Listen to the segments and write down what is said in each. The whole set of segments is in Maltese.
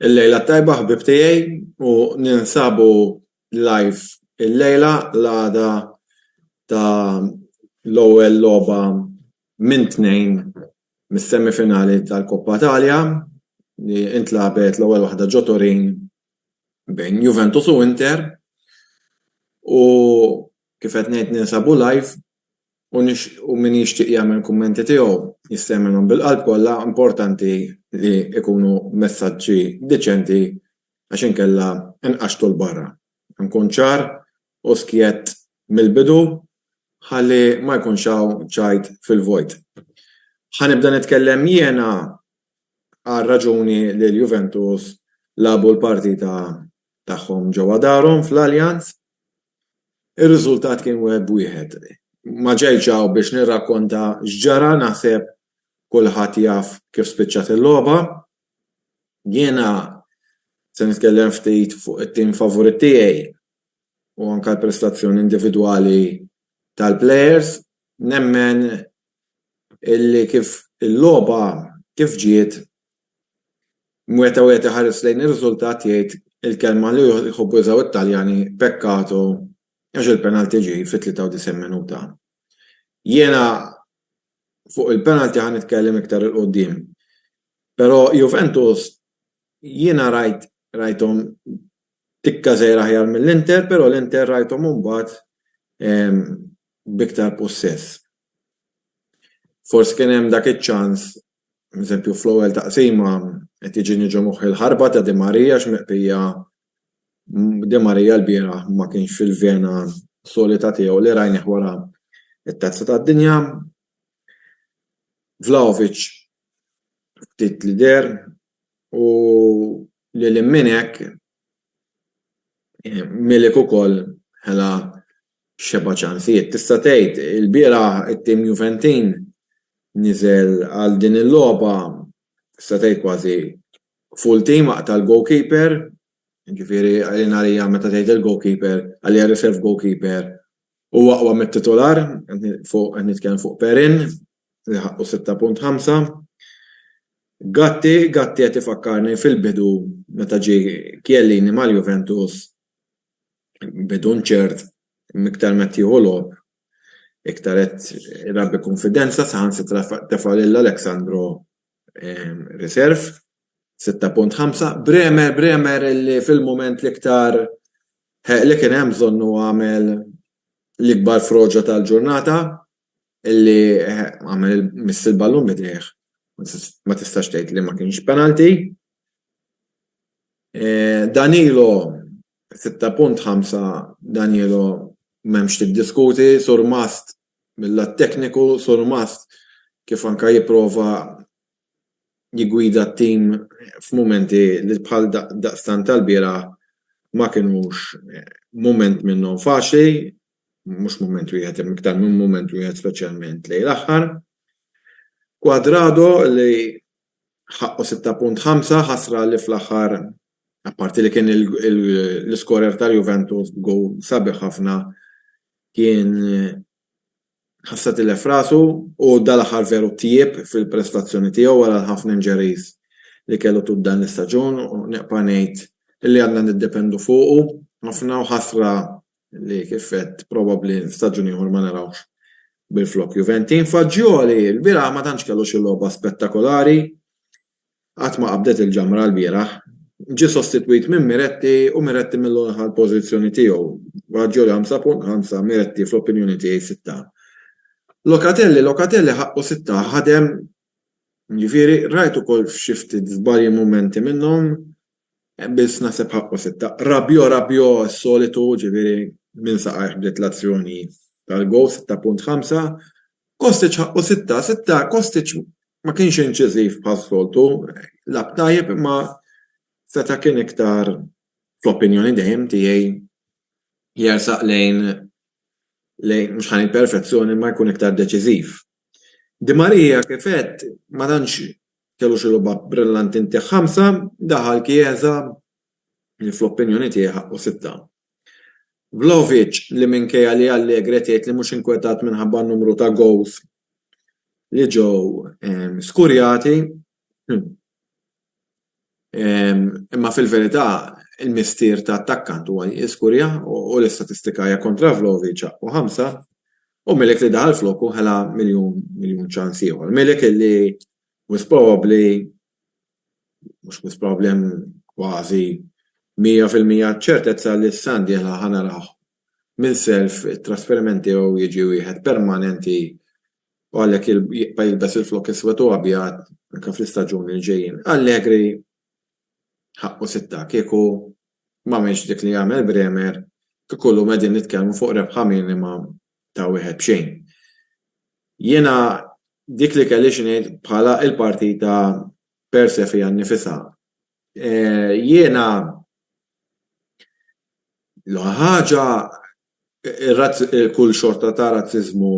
Il-lejla t-tajba ħbieb tiegħi u ninsabu live il-lejla l-għada ta' l-ewwel logħba minn tnejn mis-semi finali tal-Coppa Italia li intlagħbet l-ewwel waħda ġo Turin bejn Juventus u Inter u kif qed ngħid ninsabu live u nixtiequ min jixtieq jagħmel kummenti tiegħu jista' jagħmilhom bil-qalb kollha, importanti li jkunu messaġġi diċenti għax inkella nqaxxtu 'l barra. Nkun ċar u skjett mill-bidu ħalli ma jkunx hawn ċajt fil-vojt. Ħa nibda nitkellem jiena għar-raġuni li l-Juventus lagħbu l-partita tagħhom ġewwa darhom fl-Allianz. Ir-riżultat kien wieħed b'wieħed. Ma ġejtx hawn biex nirrakkonta x'ġara, naħseb kulħadd jaf kif spiċċat il-logħba. Jiena se nitkellem ftit fuq it-tim favorit tiegħi u anke l-prestazzjoni individwali tal-plejers. Nemmen illi kif il-logħba kif ġiet Meta wieħed iħares lejn ir-riżultat jgħid il-kelma li jħobbu jużaw it-Taljani peccato għax il-penalty ġie fit-93 minuta. Jiena fuq il-penalty ħa nitkellem iktar 'il quddiem. Però Juventus jiena rajt rajthom tikka żgħira aħjar mill-Inter però l-Inter rajthom imbagħad b'iktar pussess. Forsi kien hemm dak iċ-ċans Eżempju, fl-ewwel taqsima qed jiġini ġo moħħi l-ħarba ta' Di Maria x'miqbija Di Maria l-bieraħ ma kienx fil-vena solita tiegħu li rajnih wara t-Tazza tad-Dinja. Vlahovic ftit li deher u lil hinn minn hekk Milik ukoll ħela xebgħa ċansijiet. Tista' tgħid ilbieraħ it-tim Juventin niżel għal din il-logħba tista' tgħid kważi full team aqta' l-goalkeeper, jiġifieri għalina għalija meta tgħid il-goalkeeper għalija r-reserve goalkeeper Huwa aqwa mit-titular, qed nitkellem fuq Perin li ħaqqu 6.5. Gatti, Gatti qed ifakkarni fil-bidu meta ġie Chiellini mal-Juventus, bidu nċert, iktar ma qed jieħu logħob, iktar qed irabbi kunfidenza, saħansitra tefa' lil Alex Sandro Reserve, 6.5, Bremer, Bremer li fil-moment l-iktar li kien hemm bżonn u għamel l-ikbar froġa tal-ġurnata illi għamel miss il-ballun bidejh. Ma tistax tgħid li ma kienx penalti. Eh, Danilo 6.5 Danilo m'hemmx tiddiskuti, surmast Mil-lat tekniku, Surmast kif anke jipprova jiggwida t-tim f'mumenti li bħal daqstant tal-bieraħ ma kinux mument minnhom faċli, mhux mument wieħed imma iktar minn mument wieħed speċjalment lejn l-aħħar. Cuadrado li ħaqqu sitta punt ħamsa, ħasra li fl-aħħar apparti li kien l-iskorer tal-Juventus b'gowl sabiħ ħafna, kien ħassha tilef rasu u dal-aħħar veru tjieb fil-prestazzjoni tiegħu wara l-ħafna injuries li kellu tul dan l-istaġun u nibqa' ngħid li għadna niddependu fuqu ħafna u ħasra li kif għedt probabbli staġun ieħor ma narawhx bil-flokk Juventin. Fagioli lbieraħ ma tantx kellu xi logħba spettakolari, Qatt ma qabdet il-ġamra lbieraħ. Ġie sostitwit minn Miretti u Miretti millu neħa l-pożizzjoni tiegħu. Baggio li 5.5, Miretti fl-opinjoni tiegħi sitta. Locatelli Locatelli ħaqqu sitta, ħadem, jiġifieri rajt ukoll f'xi ftit żbalji mumenti minnhom, Bills naħseb ħaqqu sitta. Rabiot, Rabiot s-solitu, ġifieri minn saqajh bdiet l-azzjoni tal-gowl 6.5. Kostic ħaqqu sitta, sitta Kostic ma kienx inċiżiv bħas-soltu, lab tajjeb imma seta' kien iktar fl-opinjoni dejjem tiegħi jersaq lejn lejn mhux ħa ngħid perfezzjoni imma jkun iktar deċiżiv. Di Maria kif għedt ma tantx Kellu xi logħba brillanti ntih ħamsa, daħal Chiesa li fl-opinjoni tiegħi ħaqqu sitta. Vlahovic li minkejja li Allegri qed jgħid li mhux inkwetat minħabba n-numru ta' gowls li ġew skurjati imma fil-verità il-missier ta' attakkant huwa li jiskurja u l-istatistika hija kontra Vlahovic ħaqqu ħamsa. U Milik li daħal floku ħela miljun miljun ċans ieħor. Milik li mhux probabbli mhux mhux probabbli hemm kważi 100% ċertezza li s-sena d-dieħla ħa naraħ minn self it-trasferiment tiegħu jiġi wieħed permanenti u għalhekk jibqa' jilbes il-flokk iswed u abjad anke fl-istaġuni li ġejjin. Allegri Ħaqqu sitta. Kieku m'għamilx dik li għamel Bremer, kieku llum qegħdin nitkellmu fuq rebħa minima ta' wieħed b'xejn. Jiena dik li kelli xi ngħid bħala l-partita per se fiha nnifisha. E, jiena l ħaġa kull xorta ta' razzizmu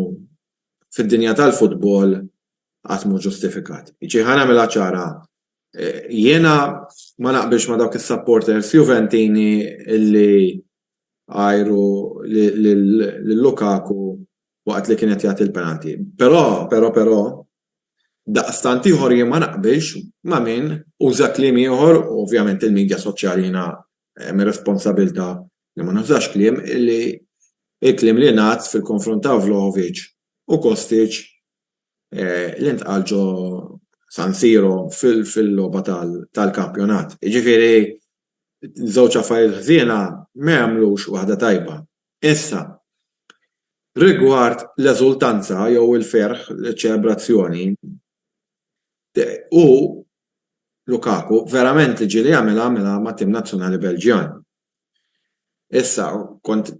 fid-dinja tal-futbol għatmu ġustifikat. Iġi ħana mela ċara, Jiena ma naqbilx ma' dawk is-supporters Juventini li għajru lil Lukaku waqt li kien qed jagħti l-penalty. Però, però, però, daqstant ieħor jien ma naqbilx ma' min uża kliem ieħor, u ovvjament il-midja soċjali jiena hemm ir-responsabilità li ma nużax kliem, li l-kliem li ngħad fil-konfront ta' Vlahovic u Kostic li ntqal ġo San Siro fil-logħba tal-kampjonat. Jiġifieri żewġ affarijiet ħżiena ma jagħmlux waħda tajba. Issa, rigward l-eżultanza jew il-ferħ, iċ-ċelebrazzjoni, hu, Lukaku, verament li ġieli jagħmilha għamilha mat-tim nazzjonali Belġjan. Issa, kont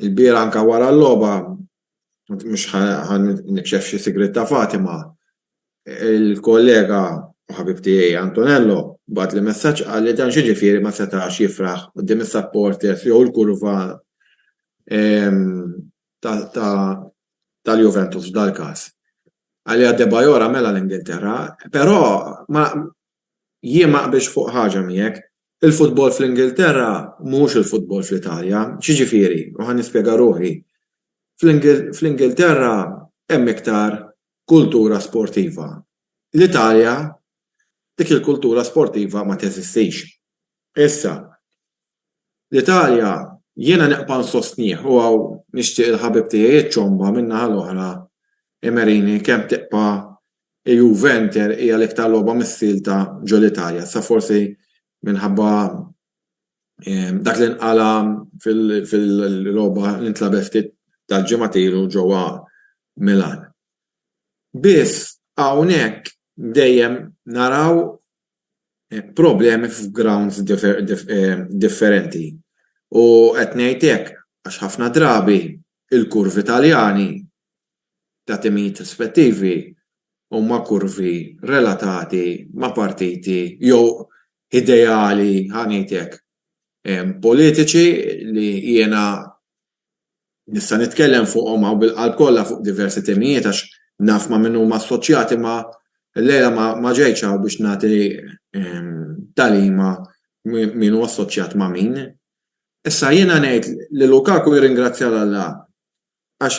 ilbieraħ anke wara l-logħba mhux ħa nikxef xi sigriet ta' Fatima, il-kollega u ħabib tiegħi Antonello bagħatli messaġġ qal li dan x'jiġifieri ma setax jifraħ quddiem is-supporters jew il-kurva tal-Juventus f'dal-każ. Għalija Debajor għamilha l-Ingilterra, però Jien ma qbiltx fuq ħaġa miegħek. Il-futbol fl-Ingilterra mhuwiex il-futbol fl-Italja. X'jiġifieri? U ħa nispjega ruħi. Fl-Ingilterra hemm iktar kultura sportiva. L-Italja dik il-kultura sportiva ma teżistix. Issa, L-Italja, jiena neqpa' nsostnih u hawn nixtieq il-ħabib tiegħi ċ-Ċomba min-naħa l-oħra Emerini kemm teqpa' Juve Inter hija l-iktar logħba missielta ġo l-Italja. Issa forsi minħabba dak li nqala' fil-logħba li ntlagħbet ftit tal-ġimgħat ilu ġewwa Milan. Biss hawnhekk dejjem naraw problemi f'grounds differenti u qed ngħid hekk għax ħafna drabi l-kurvi Taljani ta' timijiet rispettivi huma kurvi relatati ma' partiti jew ideali, ħa ngħid hekk, politiċi li jiena Nista' nitkellem fuqhom hawn bil-qalb kollha fuq diversi temijiet għax naf ma' min huma assoċjati imma llejla ma ġejtx hawn biex nagħti tagħlima min hu assoċjat ma' min. Issa jiena ngħid li Lukaku jirringrazzja 'l Alla għax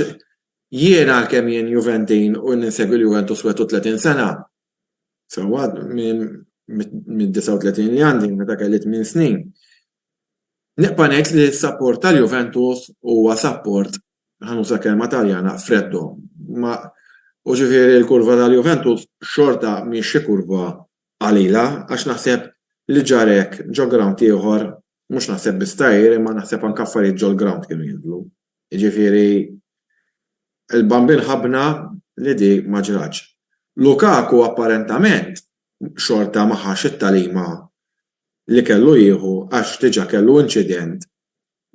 jien għalkemm jien Juventin u ninsegwi l-Juventus 31 sena, Fil-waqt mid-39 li għandi, meta kelli tmien snin, nibqa' ngħid li s-sapport tal-Juventus huwa sapport, ħanuża kelma Taljana, freddo. Ma u ġifieri l-kurva tal-Juventus xorta mhix xi kurva qalila għax naħseb li ġara hekk ġo grawnd ieħor, mhux naħseb biss Tahir imma naħseb anke affarijiet ġol-grawnd kienu jinżlu. Jiġifieri l-bambin ħabbna li di ma ġratx. Lukaku apparentament xorta ma ħax it-tagħlima li kellu jieħu għax diġa kellu inċident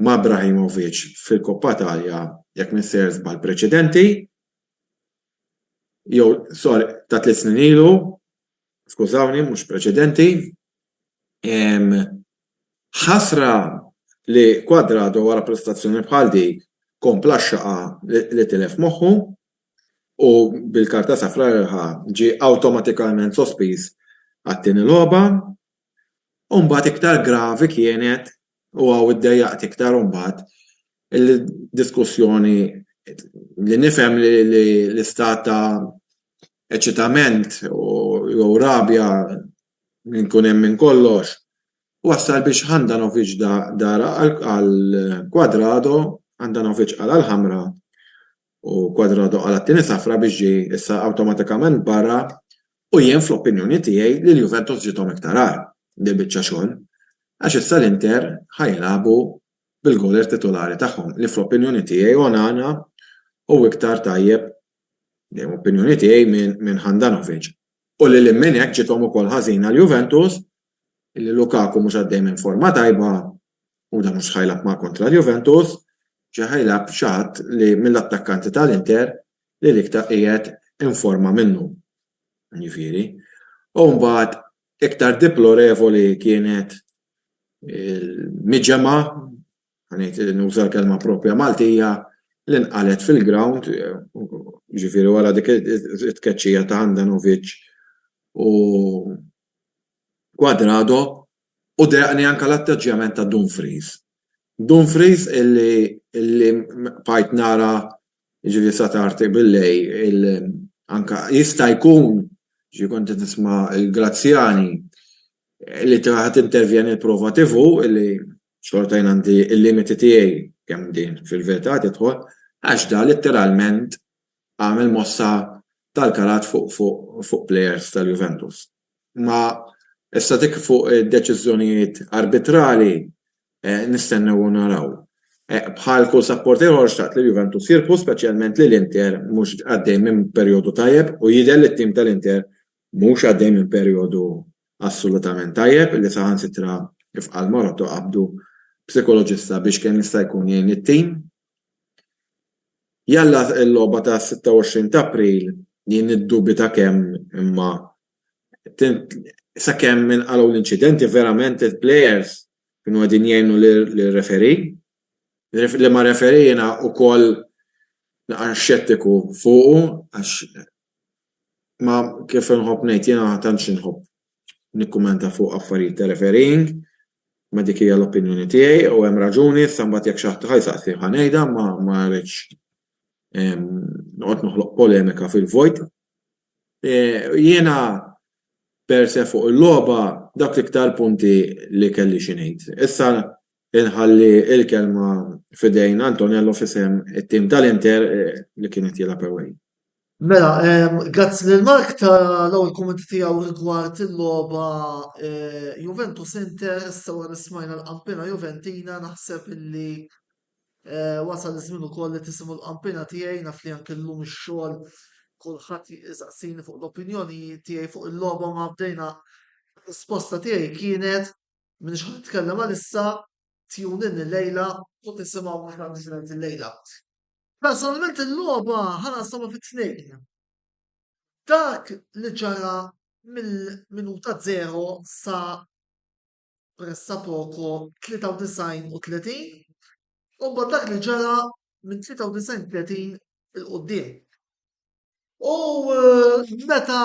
ma' Ibrahimovic fil-Coppa Italia jekk m'insejjer żball preċedenti jew sorry ta' tliet snin ilu skużawni mhux preċedenti. Ħasra li Cuadrado wara prestazzjoni bħal dik kompla x-xaqa li tilef moħħu u bil-karta safra li ħa ġie awtomatikalment sospiż għat-tieni logħba u mbagħad iktar gravi kienet u hawn iddejjaqt iktar imbagħad il-diskussjoni li nifhem li l-istat ta' eċitament jew rabja minn kun hemm minn kollox, wassal biex Handanovic dara għal Cuadrado, Handanovic qala' l-ħamra u Cuadrado qala' t-tieni safra biex ġie issa awtomatikament barra u jien fl-opinjoni tiegħi lil Juventus ġiethom iktar agħar dil-biċċa xogħol għax issa l-Inter ħa jilagħbu bil-goaler titulari tagħhom li fl-opinjoni tiegħi Onana hu iktar tajjeb, dejjem opinjoni tiegħi, minn Handanovic. U lil hinn minn hekk ġiethom ukoll ħażin għal Juventus li Lukaku mhux għaddej minn forma tajba u dan mhux ħajlgħab ma' kontra l-Juventus, ġa ħajlgħab b'xi ħadd li mill-attakkanti tal-Inter li l-iktar qiegħed informa minnu. Jiġifieri. U mbagħad iktar diplorevoli kienet il-miġemgħa ngħid nuża l-kelma proprja Maltija, li nqalgħet fil-grawnd, jiġifieri wara dik it-tkeċċija ta' Handanovic u Cuadrado, u dehqni anke l-atteġġjament ta' Dumfries. Dumfries illi bqajt nara jiġifieri sa tard bil-lejl anke jista' jkun, jiġifieri kont qed nisma' lil Graziani, li ta' ħa tintervjeni l-prova TV illi Xorta jien għandi l-limiti tiegħi kemm din fil-verità tidħol għax dan litteralment għamel mossa tal-karat fuq plejers tal-Juventus. Imma issa dik fuq id-deċiżjonijiet arbitrali nistennew u naraw. Bħal kull sapporter ieħor xtaqt li l-Juventus jirbħu speċjalment li l-Inter mhux għaddej minn perjodu tajjeb u jidher li t-tim tal-Inter Mhux għaddej minn perijodu assolutament tajjeb li saħansitra rifqa' l-Moroto qabdu psikoloġista biex kemm jista' jkun jgħin it-tim. Jalla l-logħba tas-26 t'April jien niddubita kemm imma sakemm inqalgħu l-inċidenti verament il-plejers kienu qegħdin jgħinu lir-referee. Liema referee jiena wkoll naqra xettiku fuqu għax Ma kif inħobb ngħid jiena tantx inħobb nikkumenta fuq affarijiet ta' refereeing, ma dik hija l-opinjoni tiegħi u hemm raġuni, issa mbagħad jekk xi ħadd ħa jsaqsi ħa ngħidha imma ma rridx noqgħod noħloq polemika fil-vojt. Jiena per se fuq il-logħba dawk l-iktar punti li kelli xi ngħid. Issa Inħalli l-kelma f'idejn Antonello f'isem it-tim tal-Inter li kien qed jilgħab away. Mela, grazzi lil Mark tal-ewwel kummenti tiegħu rigward il-logħba Juventus Inter, issa wara li smajna l-qampina Juventina naħseb illi wasal iż-żmien ukoll li tisimgħu l-qampina tiegħi naf li anke llum ix-xogħol kulħadd jisaqsini fuq l-opinjoni tiegħi fuq il-logħba ma bdejna risposta tiegħi kienet Minix ħa nitkellem għalissa, tune in il-lejla u tisimgħu mhux għandi xinajt il-lejla. Personalment il-logħba ħana sama fit-tnejn. Dak li ġara mill-minuta zero sa pressa poco 93 u 30, u mbagħad dak li ġara minn 93 30 il-qoddim. U eh, meta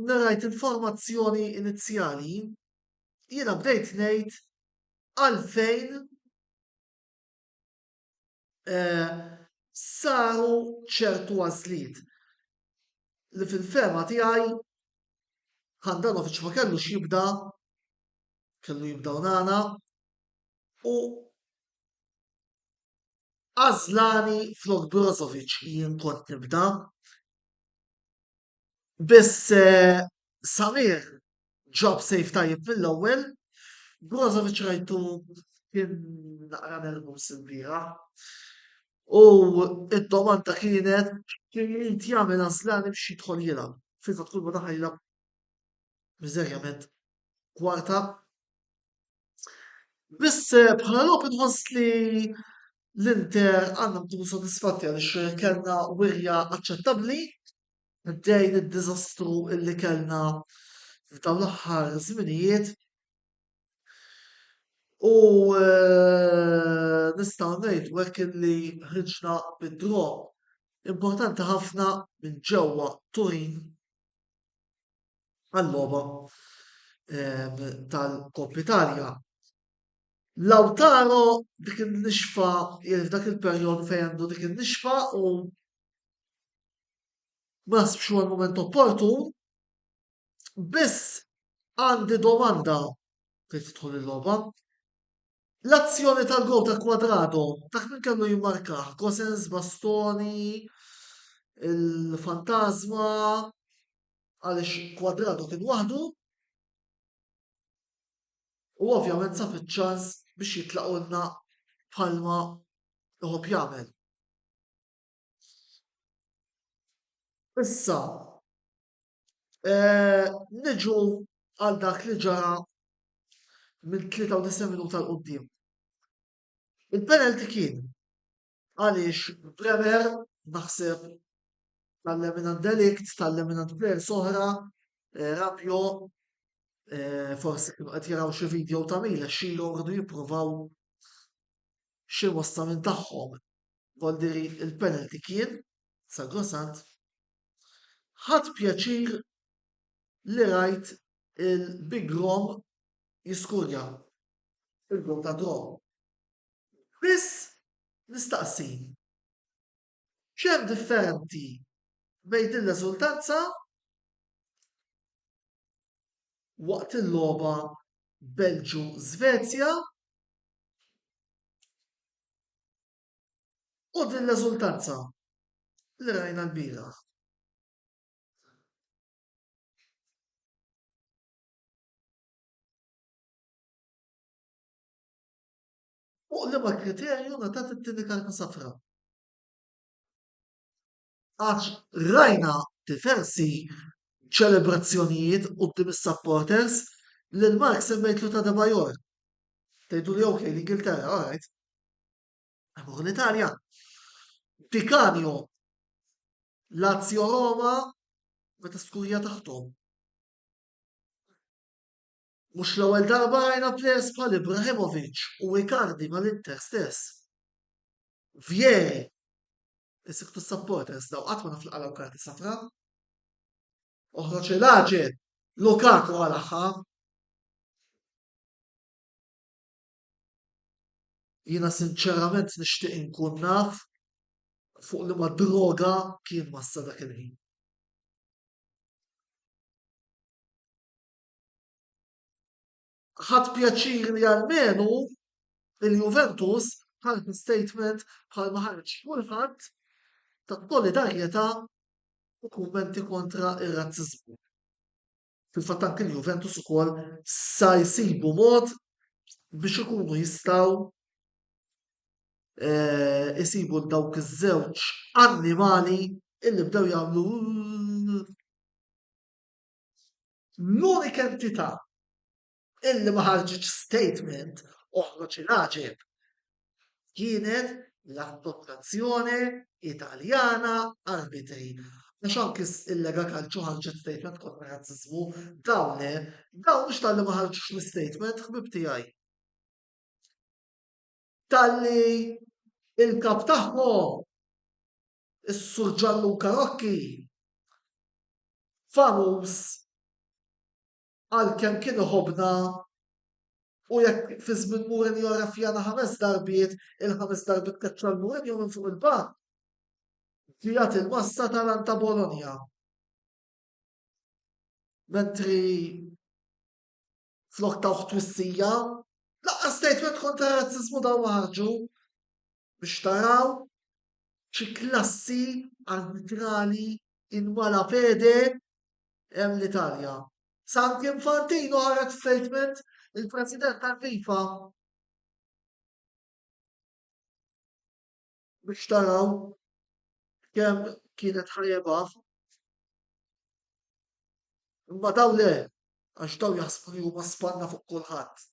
narajt il-formazzjoni inizjali, jiena bdejt ngħid għalfejn eh, saru ċertu għażliet li fil-fema tiegħi Handanovic ma kellu xibda, kellu jibda nana, u għazlani flok Brozovic jien kont nibda. Biss eh, Salir ġab sejf tajjeb mill-ewwel, Brozovic rajtu kien naqra nervus il-bira. U id-domanda kienet kien jrid jagħmel għażlani biex jidħol jilgħab. Fil fatt kull ma daħal jilgħab miżerjament kwarta. Biss eh, bħala logħob inħoss li l-Inter għandhom tkun sodisfatti għaliex kellna wirja aċċettabbli minkejja d-diżastru li kellna f'dawn l-aħħar żminijiet u nistgħu ngħidu hekk illi ħriġna bi draw importanti ħafna minn ġewwa Turin għal-logħba tal-Coppa Italia. Lautaro dik in-nixfa, f'dak il-perjodu fejn għandu dik in-nixfa u ma nsibx huwa l-mument opportun, biss għandi domanda fejn tidħol il-logħba. L-azzjoni tal-gowl ta' Quadrado, dak min kellu jimmarkah? Gosens, Bastoni, il-Fantasma, għaliex Quadrado kien waħdu u ovvjament sab iċ-ċans biex jitlaqulna bħalma jħobb jagħmel. Issa, niġu għal dak li ġara minn 93 minuta l qudiem Il-penalty kien għaliex Bremer naħseb tallem minn għand Delikt, tallem minn għand players oħra, eh, Rabio eh, forsi kienu qed jaraw xi video ta' Mila xilhom rridu jippruvaw x'imgħossa minn tagħhom Valdieri il-penalty kien sagrosant. Ħadt pjaċir li rajt il-Big Rom jiskurja il-goal tad-draw. Biss nistaqsi X'hemm differenti bejn din l-eżultanza waqt il-logħba Belġju-Żvezja u din l-eżultanza li rajna lbieraħ? Fuq liema kriterju ngħatat it-tieni karta safra? Għax rajna diversi ċelebrazzjonijiet quddiem is-supporters lil Mark semmejtlu ta' Debajor. Tgħidu li ok l-Ingilterra, all right. Imur l-Italja. Tikanjo Lazio Roma meta skurja taħtom. Mhux l-ewwel darba rajna players bħal Ibrahimovic u Icardi mal-Inter stess. Vieri, is-siktu s-supporters daw qatt ma naf laqalgħu karti safra. Oħroġ il-aġel, Lukaku għal aħħar. Jiena sinċerament nixtieq inkun naf fuq li ma droga kien massa dak il-ħin. ħadd pjaċir li għalmenu il-Juventus ħarġ statement bħal ma ħarġ kulħadd ta' solidarjetà u kummenti kontra ir-razziżmu. Fil-fatt anke l-Juventus ukoll sa jsibu mod biex ikunu jistgħu eh, isibu dawk iż-żewġ annimali illi bdew jagħmlu L-unika entità illi ma ħarġitx statement oħroġ il-għaġeb kienet l-Assoċjazzjoni Italjana Arbitri Għax anki il-Lega Calcio ħarġet statement kontra razzizmu, dawn le, dawn mhux tal-li ma ħarġux l-statement ħbib tiegħi. Tal-li il-kap tagħhom is-Sur Gianluca Rocchi, famuż għalkemm kien iħobbna u jekk fi żmien Mourinho arrafjana ħames darbiet, il-ħames darbiet keċċa l-Mourinho minn fuq il-bank. Ġiegħed il-massa tal-Anta Bologna. Mentri Flok tawh twissija, lanqas statement kontra r-razziżmu dawn ma ħarġu. Biex taraw xi klassi arbitrali in mala pede hemm l-Italja. Sa anki Infantino ħareġ statement il-President tal-FIFA biex taraw kemm kienet ħajebaf. Imma daw le, għax daw jaħsbu li huma spanna fuq kulħadd.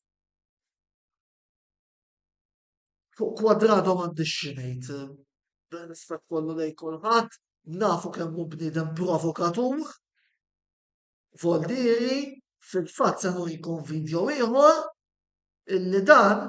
Fuq kwadrado m'għandix xi ngħid, dan rispett kollu lejn kulħadd, nafu kemm hu bniedem provokatur, voldieri, fil-fatt se nurikom video ieħor illi dan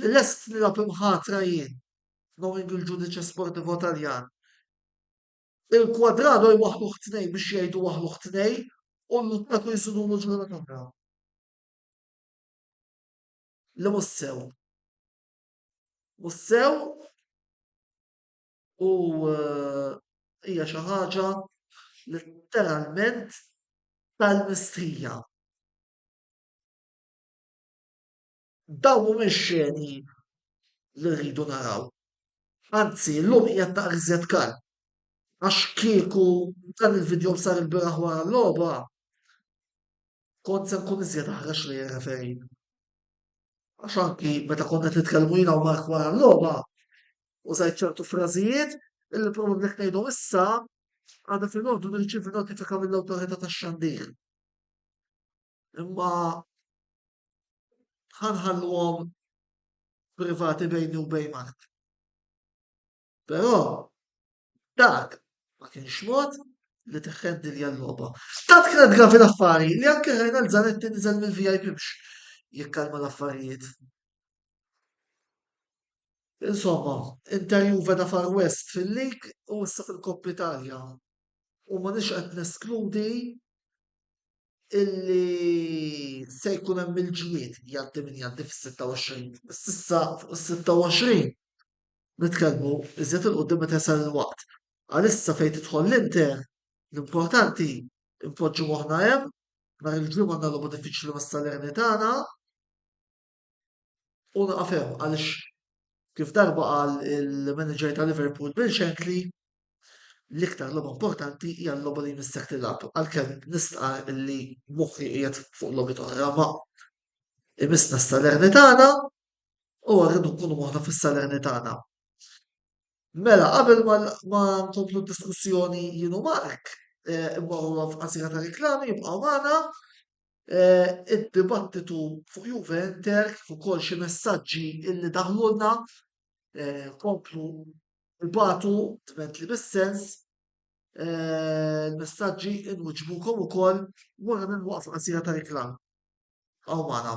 li lest nilgħab imħatra jien, knowing il-ġudice sportivo Taljan, il-Cuadrado jwaħħluh tnejn biex jgħidu waħħluh tnejn u l-Lukaku jsudulu ġurnata oħra. Li mhux sew. Mhux sew u eh, hija xi ħaġa letteralment tal-mistrija. Dawn mhumiex xeni li rridu naraw. Anzi, illum qiegħed naqra iżjed kalm. Għax kieku dan il-vidjow sar il-bieraħ wara l-logħba, kont se nkun iżjed aħrax lejn ir-referee. Għax anki meta kont qed nitkellmu jiena u Mark wara l-logħba, użajt ċertu frażijiet illi probabbli qed ngħidhom issa għadha filgħodu nirċievi notifika mill-awtorità tax-xandir. Imma ħa nħalluhom privati bejni u bejn Mark. Però dak ma kienx mod li teħħendi li għal-loba. Ta' tkret gravi l-affari li anke ħajna l-zanetti nizel mill-VIP biex jikkalma l-affarijiet. Insomma, interju veda far west fil-lik u issa fil-Koppi Italja. U ma nix qed neskludi illi se jkun hemm il-ġlied jgħaddi min jgħaddi fis-26 s'issa fuq is-26 nitkellmu iżjed il qudiem meta jsal il-waqt. Għalissa fejn tidħol l-Inter l-importanti npoġġu moħħna hemm nhar il-Ġimgħa għandna logħba diffiċli mas-Salernitana U naqaf hemm għaliex kif darba qal il-manager ta' Liverpool Bill Shankly l-iktar logħba importanti hija l-logħba li jmissek tilgħab. Għalkemm nistqa' li moħħi qiegħed fuq logħbi oħra ma imissna s-salerni tagħna u rridu nkunu moħħna fis-salerni tagħna. Mela, qabel ma nkomplu diskussjoni jienu Mark, eh, immorru għaf qasira ta' reklami, jibqgħu magħna Eh, id-dibattitu fuq Juve Inter kif ukoll xi messaġġi illi daħlulna eh, komplu batu dment li bis-sens eh, il-messaġġi inwiġbukom ukoll wara minn waqf qasira ta' reklam. Aw magħna.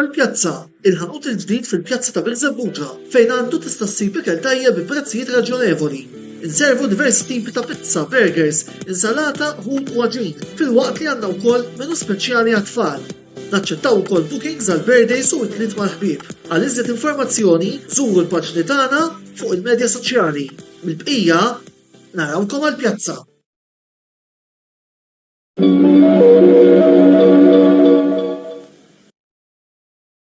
Għall-pjazza, il-ħanut il-ġdid fil-pjazza ta' Birżebbuġa fejn għandu tista' ssib ikel tajjeb bi prezzijiet raġjonevoli. Inservu diversi tipi ta' pizza, burgers, insalata, ħut u għaġin, filwaqt li għandna wkoll menu speċjali għat-tfal. Naċċettaw ukoll bookings għal birthdays u it-tliet mal-ħbieb. Għal iżjed informazzjoni żuru l-paġni tagħna fuq il-medja soċjali. Mill-bqija, narawkom għall-pjazza!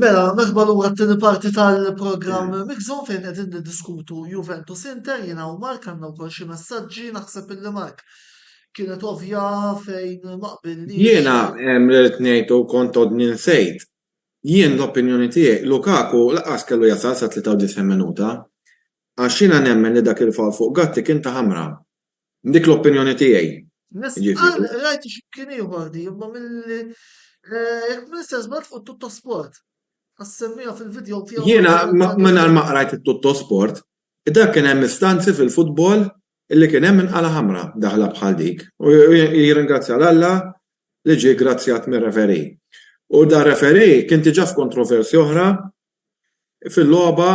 Mela, merħba lura t-tieni parti tal-programm Mixon fejn qegħdin niddiskutu Juventus Inter jiena u Mark għandna wkoll xi messaġġi naħseb illi Mark kienet ovvja fejn maqbilni. Jiena hemm li rid ngħid u kont odni nsejt. Jien l-opinjoni tiegħi Lukaku laqas kellu jasal sa 93 minuta. Għax jiena nemmen li dak il-foul fuq Gatti kien ta' ħamra. Dik l-opinjoni tiegħi. Nistqarr qrajt xi mkien ieħor di, imma milli jekk m'iniex se żball fuq it-Tuttosport. Għax semmiha fil-vidjow tiegħu. Jiena mingħajr ma qrajt it-Tuttosport, dak kien hemm istanzi fil-futbol li kien hemm inqala' ħamra daħla bħal dik. U jirringrazzja 'l Alla li ġie ggrazzjat mir-referee. U dar-referee kien diġà f'kontroversja oħra Fil-logħba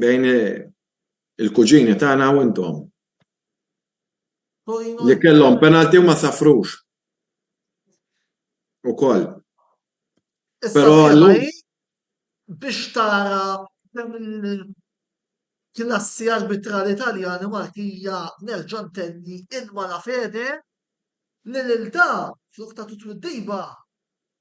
bejn il-kuġini tagħna u intom li kellhom penalty u ma safrux ukoll. Però llum. Biex tara kemm il-klassi arbitrali Taljani u Malti hija nerġa' ntenni in malafede li lil da flok tagħtu twiddiba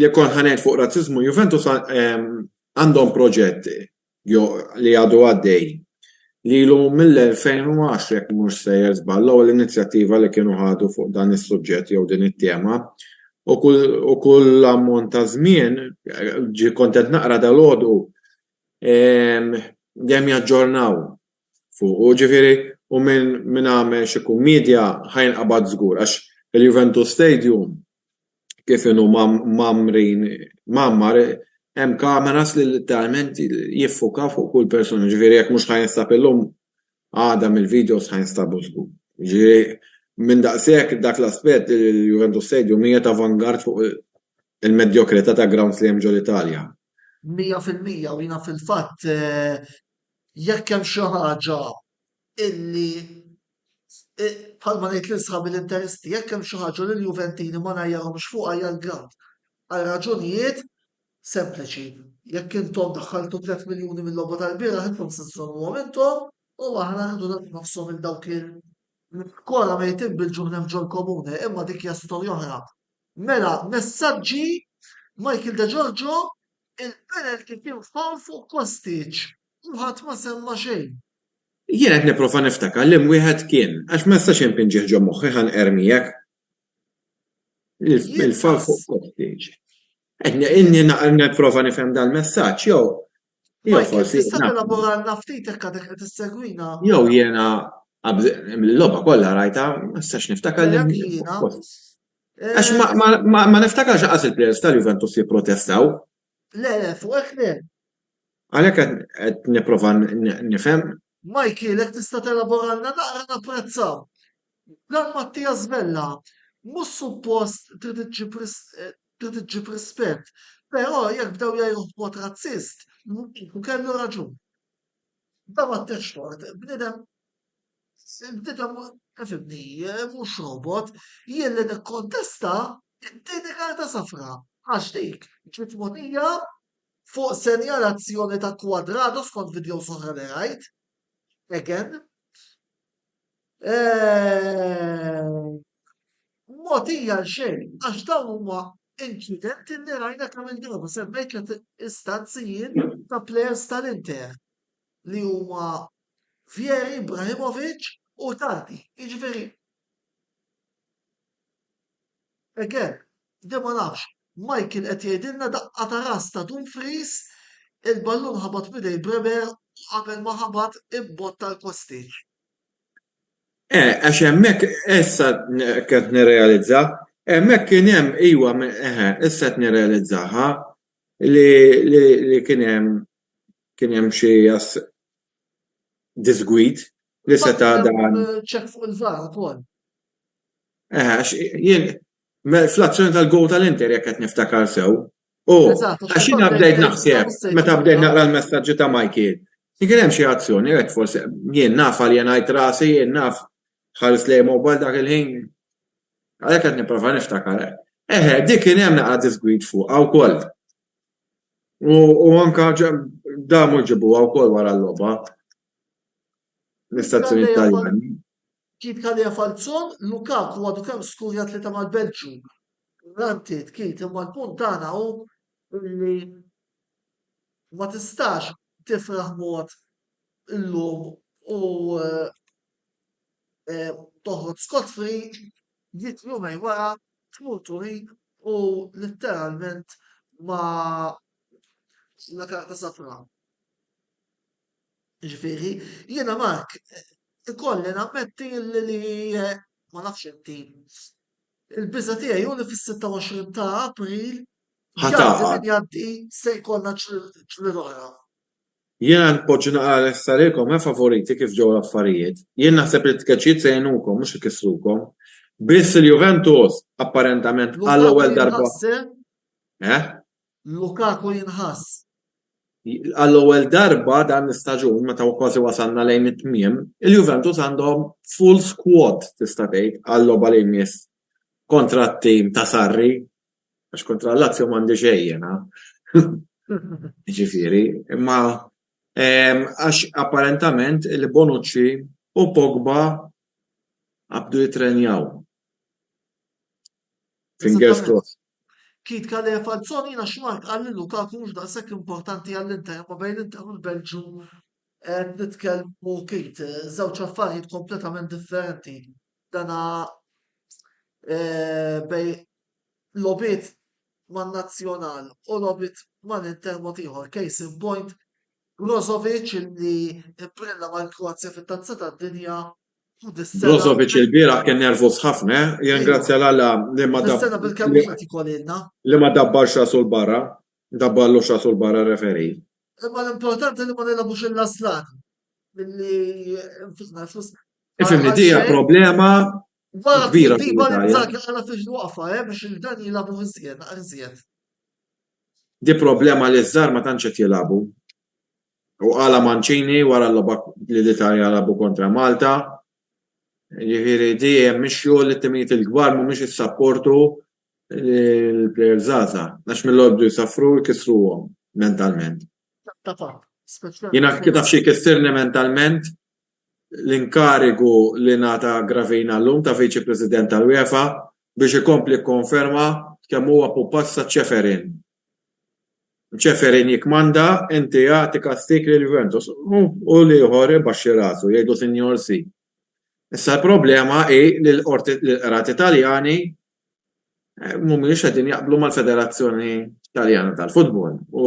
Jekk kont ħa ngħid fuq razziżmu, Juventus ehm, għandhom proġett li għadu għaddej li l mill-2010 jekk mhux sejjer żball l-ewwel inizjattiva li kienu ħadu fuq dan is-suġġett jew din it-tema u kull ammont ta' żmien ġi kontent naqra dal-għodu ehm, dejjem jaġġornaw fuq u ġifieri u minn għamel xi kummedja ħajn qabad żgur għax il-Juventus Stadium kif inhu mgħammrin mgħammar hemm kameras li letteralment jiffukaw fuq kull persuna, jiġifieri jekk mhux ħa jinstab illum, għada mill-videos ħa jinstabu żgur. Jiġifieri minn daqshekk dak l-aspett il-Juventus Stadium hija ta' vanguard fuq il-medjokrità ta' grounds li hemm ġol-Italja. Mija fil-mija u jiena fil-fatt jekk hemm xi ħaġa illi bħalma ngħid lil sħabi l-Interisti jekk hemm xi ħaġa li l-Juventini ma ngħajjarhomx fuqha hija l-ground. Għal raġunijiet sempliċi. Jekk intom daħħaltu 3 miljuni mill-logħba tal-bieraħ intom se żżommuhom intom u aħna rridu nagħtu nofshom il dawk il Kora mejtin bil-ġuħ hemm ġol-komune, imma dik hija storja oħra. Mela, messaġġi Michael De Giorgio il-penalty kien fawl fuq Kostic. Kulħadd ma semma xejn. Jien qed nipprova niftakar liem wieħed kien, għax ma nistax inpinġih ġo moħħi ħa nqerr miegħek. Il-far fuq kottiġ. Inni nipprova nifhem dal-messaġġ jew jew forsi. Tista' elaboralna ftit hekk għadek qed issegwina. Jew jiena l-logħba kollha rajta ma nistax niftakar li. Għax ma niftakarx qas il-players tal-Juventus jipprotestaw Le, le, fuq hekk le. Għalhekk qed nipprova nifhem. Mikey, jekk tista' telaboralna naqra napprezza. Dan Mattias Vella mhux suppost trid iġġib trid iġġib rispett, però jekk bdew jgħajruh b'mod razzist, kellu raġun. Dan Mattex Tort bniedem. Il-bniedem ifhimni mhux robot, jien li nikkontesta t-tieni karta safra għax dik ġiet mogħtija fuq senjalazzjoni ta' Cuadrado skont videos oħra li rajt. Again. Mogħtija għal xejn għax dawn huma inċidenti li rajna kemm il-darba semmejt istanzi jien ta' plejers tal-Inter. li huma Vieri, Ibrahimovic u Tardi. Jiġifieri again, di ma nafx, Michael qed jgħidilna daqqa ta' ras ta' Dumfries, il-ballun ħabat m'idej Bremer u qabel ma ħabat imbotta l-Kostic. Eh, għax hemmhekk issa qed nirrealizza, hemmhekk kien hemm iva, eħe, issa qed nirrealizzaha li kien hemm kien hemm xi disgwid li seta' dan. Check fuq il-VAR ukoll. Eħe, għax jien fl-azzjoni tal-gowl tal-Inter jekk qed niftakar sew. U għax jiena bdejt naħseb meta bdejt naqra l-messaġġi ta' Michael. Kien hemm xi azzjoni hekk forsi jien naf għal jien ngħid rasi jien naf ħares lejn mobile dak il-ħin. Għalhekk qed nipprova niftakar. Eħe, dik kien hemm naqra disgwid fuqha wkoll. U anka damu ġibuha wkoll wara l-logħba. L-istazzjoni Taljani. Kif kalija Falzon, Lukaku għadu kemm skurja tlieta mal-Belġju. Ranti tkit imma l-punt tagħna hu li ma tistax tifraħ mod illum u eh, eh, toħroġ scot free Miet jumejn wara tmur Turin u litteralment ma la karta safra. Ġifieri, jiena Mark, ikolli nammetti li ma nafx inti. Il-biża' tiegħi hu li fis-26 ta' April, jgħaddi min jgħaddi, se jkollna ċliel oħra. Jiena npoġġi naqra lesta lilkom, efa' voriti kif ġew l-affarijiet. Jien naħseb li t-tkeċċijiet se jgħinukom, mhux ikissrukom. Biss il-Juventus, apparentament għall-ewwel darba, Lukaku jinħass, eh? Eh? Lukaku jinħass. Għall-ewwel darba dan l-istaġun, meta kważi wasalna lejn it-tmiem, il-Juventus għandhom full squad tista' tgħid għal-logħba li jmiss kontra t-tim ta' Sarri. Għax kontra l-Lazio m'għandi xejn jiena. Ġifieri, imma ehm, għax apparentament il-Bonucci u Pogba għabdu jitrenjaw. Fingers crossed. Kit kalli falzon jina xmart għalli Lukaku mux daqsek importanti għall-Inter, ma bejn Inter u l-Belġu eh, nitkellmu kit, eh, zewċ affarijiet kompletament differenti. Dana eh, bej logħbiet man-nazzjonal u logħbiet mal-Inter mod ieħor, case in point Brozovic li imbrilla mal-Kroazja fit-Tazza tad-Dinja u dis-sena. Brozovic il-bieraħ kien nervuż ħafna, eh? jingrazzja l alla li ma dabbarx. Dis-sena bil-kemm qed ikolilna. Li ma dabbarx rasu l-barra, dabbarlu rasu l-barra referi. Imma l-importanti li ma nilagħbux il-laslan milli nfisna flus. Ifimni dija problema Waqt kbira li Dybala fil-Italja. Inzaghi għaraf fiex jwaqqafha eh, biex il-Milan jilagħbu iżjed, iżjed. Di problema li ż-żgħar ma tantx qed jilagħbu. U qala Mancini wara l-logħba li l-Italja lagħbu kontra Malta. Jiġifieri di hemm mixju li t-timijiet il-kbar mhumiex issapportu l-plejers żgħażagħ għax mill-għoddu jsaffru jkissruhom mentalment. Ta' fatt, speċjalment. Jiena kif taf xi jkissirni mentalment l-inkarigu li ngħata Gravina llum ta' Viċi President tal-UEFA biex ikompli jikkonferma kemm huwa pupazz ta' Ceferin. Ceferin jikkmanda, inti agħti kastig lil Juventus u l-ieħor ibaxxi rasu, jgħidlu Sinjor Si. Issa l-problema hi li l-qrati Taljani mhumiex qegħdin jaqblu mal-Federazzjoni Taljana tal-Futbol u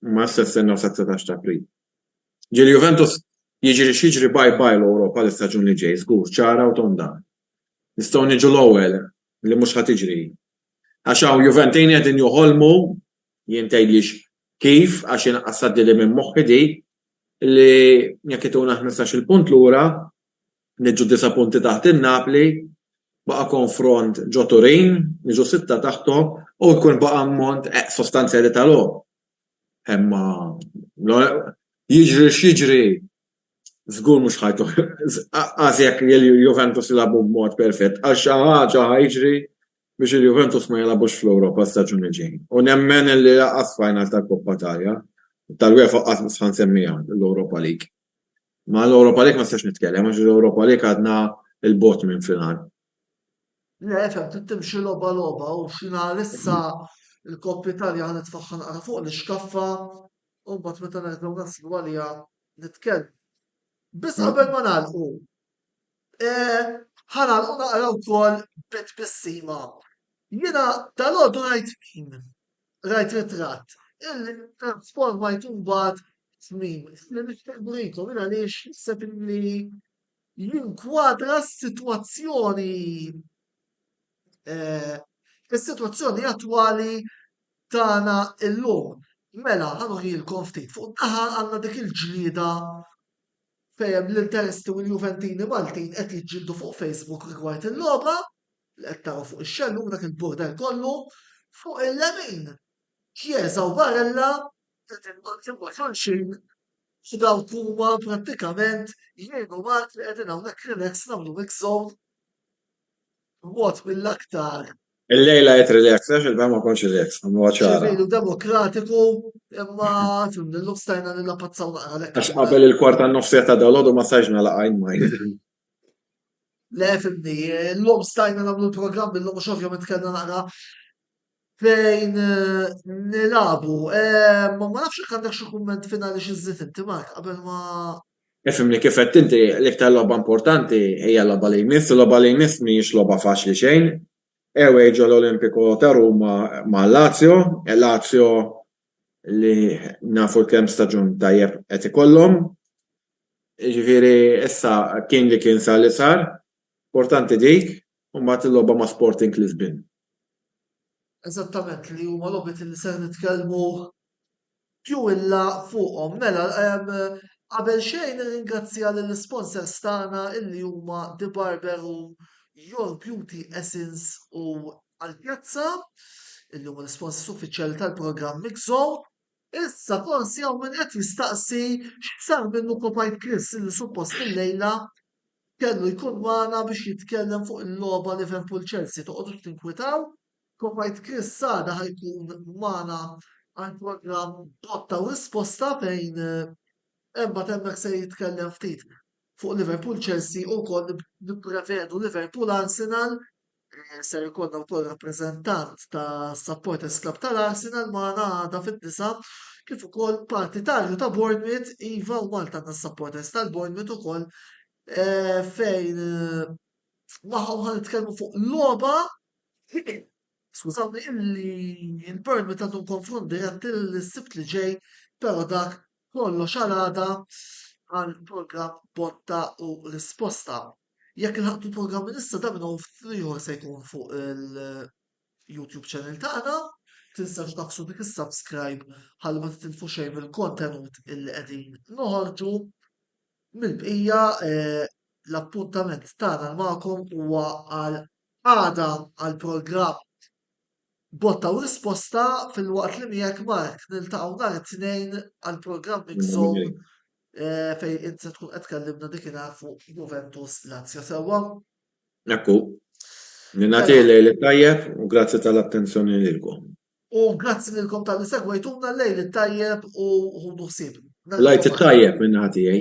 huma issa jistennew sat-19 ta' April. Ġieli Juventus jiġri x'jiġri bye bye l-Ewropa l-istaġun li ġej, żgur, ċara u tonda. Nistgħu niġu l-ewwel li mhux ħa tiġri. Għax hawn Juventini qegħdin joħolmu, jien tgħidlix kif għax jiena qasad lili minn moħħi dik, li jekk ituna ħmistax-il punt lura, niġu disa' punti taħt in-Napli, baqa' konfront ġo Turin, niġu sitta taħthom u jkun baqa' ammont sostanzjali ta' logħob. Imma jiġri x'jiġri żgur mhux ħa qas jekk il-Juventus jilagħbu b'mod perfett għax xi ħaġa ħa jiġri biex il-Juventus ma jilagħbux fl-Ewropa s-staġun li ġej. U nemmen li lanqas final tal-Coppa Italia, tal-UEFA qatt ħa nsemmiha l-Europa League. Ma l-Europa League ma nistax nitkellem għax l-Europa League għadna 'l bogħod minn final. Le, fehmtni, trid timxi logħba logħba u xi nhar issa l-Coppa Italia ħa nitfagħha naqra fuq l-ixkaffa u mbagħad meta nerġgħu naslu għaliha nitkellmu. Biss qabel ma nagħlqu, ħa nagħlqu naqra wkoll bi tbissima. Jiena dalgħodu rajt meme, rajt ritratt, illi ttransformajt imbagħad f'meme, li nixtieq nurikom, jien għaliex naħseb illi jinkwadra s-sitwazzjoni is-sitwazzjoni attwali tagħna llum. Mela, ħa nuħilkom ftit. Fuq naħa għandna dik il-ġlieda fejn l-Interisti u l-Juventini Maltin qed jiġġieldu fuq Facebook rigward il-logħba li qed taraw fuq ix-xellum dak il-border kollu. Fuq il-lemin, Chiesa u Barella Dawn il-kontribbuzzjoni xejn u dawk huma prattikament jgħinu Malti li qegħdin hawnhekk relax nagħmlu mix xogħol b'mod mill-aktar. Illejla qed relax, għax il-bira ma kontx relax, nagħmluha ċara. Ċivili u demokratiku imma fimni llum stajna nillapazzaw naqra għalhekk. Għax qabel il-kwart tan-nofsiegħa ta' dalgħodu ma stajtx nagħlaq għajn ma' Le fimni, llum stajna nagħmlu l-programm illum għax ovvjament kellna naqra Fejn nilagħbu. Eh, ma nafx jekk għandek xi kumment finali xi żżid inti Mark qabel ma Ifimni kif qed inti l-iktar logħba importanti hija logħba li jmiss, u logħba li jmiss mhijiex logħba faċli xejn. Ewej ġo l-Olimpiku ta' Ruma ma' Lazio, e Lazio li nafu kemm staġun tajjeb qed ikollhom. Ġifieri issa kien li kien sar li sar, importanti dik, U mbagħad il-logħba ma' Sporting Lisbin. Eżattament, li huma logħbiet li ser nitkellmu più in là fuqhom. Mela, qabel xejn nirringrazzja lill-isponsors tagħna illi huma The Barber u Your Beauty Essence u Alpiazza, illi huma l-isponsors uffiċjali tal-programm Mix Zone. Issa forsi hawn min qed jistaqsi x'sar minnu Kopajt Chris illi suppost illejla kellu jkun magħna biex jitkellem fuq il-logħba Liverpool Chelsea toqgħodux tinkwitaw, Kopajt Chris għada ħa jkun magħna għal programm Botta u Risposta fejn imbagħad hemmhekk se jitkellem ftit fuq Liverpool Chelsea u wkoll nipprevedu Liverpool Arsenal Eh, ser ikollna wkoll rappreżentant ta' Supporters Club tal-Arsenal magħna għada fid-disa kif ukoll partitarju ta' Bournemouth iva u Malta għandna supporters tal-Bournemouth ukoll eh, fejn eh, magħhom ħan nitkellmu fuq logħba skużawni illi il-Bournemouth għandhom konfront dirett il-sibt li ġej però dak kollox għal għada għal program botta u risposta. Jekk ilħaqt il-programm issa dan u ftit ieħor se jkun fuq il-YouTube channel tagħna. Tinsewx tagħfsu dik is-subscribe ħalli ma titilfu xejn mill-kontenut illi qegħdin noħorġu. Mill-bqija eh, l-appuntament tagħna magħkom huwa għal għada għal programm Botta u risposta filwaqt li miegħek Mark niltaqgħu nhar it-Tnejn għall-programm Mix Zone fejn int se tkun qed tkellimna dikinhar fuq Juventus Lazio sewwa. Hekk hu. Ningħatih lejl it-tajjeb u grazzi tal-attenzjoni lilkom. U grazzi lilkom talli segwejtuna, lejl it-tajjeb u ħudu ħsieb. L-Għid it-tajjeb min-naħa tiegħi.